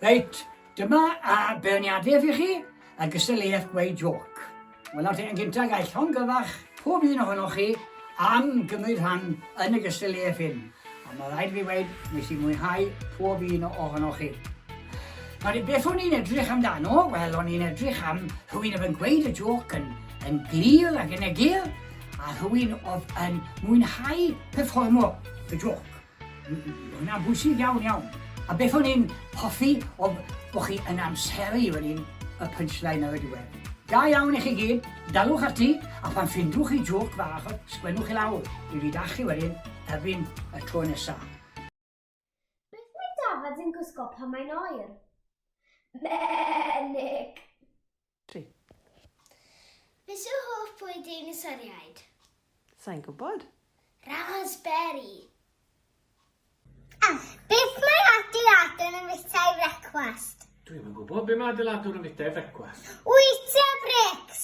Reit, dyma a berniadaeth i chi a gystadleuaeth gweud joc. Wel, nawr te, yn gyntaf gael llongyfarch pob un ohonoch chi am gymryd rhan yn y gystadleuaeth hyn. A mae rhaid fi wneud, nes i mwynhau pob un ohonoch chi. Nawr, beth o'n i'n edrych amdano? Wel, o'n i'n edrych am rhywun yn gweud y joc yn, yn glir ac yn egir, A rhywun oedd yn mwynhau perfformo y jôc. Mae hynna'n bwysig iawn, iawn. A beth o'n i'n hoffi oedd bod chi yn amseru fan hyn y punchline ar y diwedd. Da iawn i chi gyd, dalwch ati, a phan ffindwch chi jôc fach, sgwennwch i lawr, dwi 'di dachu wedyn, erbyn y tro nesa. Beth mae Dafad yn gwisgo pan mae'n oer? Menig! Tri. Beth yw hoff bwyd ein ystyriaid? Sa'n gwybod. Raspberry! A. Beth mae adeiladwr yn fwyta i frecwast? Dwi'm yn gwybod. Be mae adeiladwr yn fwyta i frecwast? Wyta brics!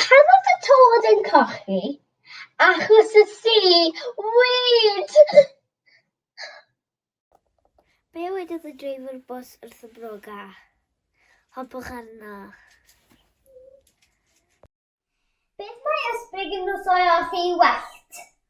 Pan oedd y tod yn cochi, achos y si, wyd! Be wedodd y dreifwr bws wrth y broga? Hopwch arno. Beth mae ysbryd yn nos o'i os ei wellt?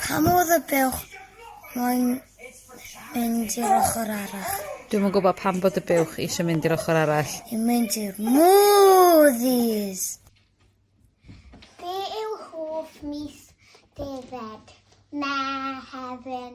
Pa modd y buwch moyn mynd i'r ochr arall? Dwi'm yn gwybod pam bod y buwch eisiau mynd i'r ochr arall. I mynd i'r movies. Be yw hoff mis defaid? Mehefin.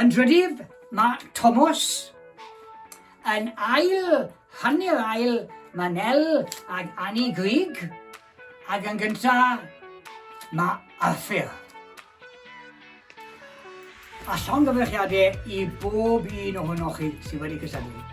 Yn drydydd, mae Tomos. Yn ail, hanner ail, mae Nel ag Annie Grig. Ac yn gyntaf, mae Arthur. A llongyfarchiadau i bob un ohonoch chi sydd wedi cysylltu.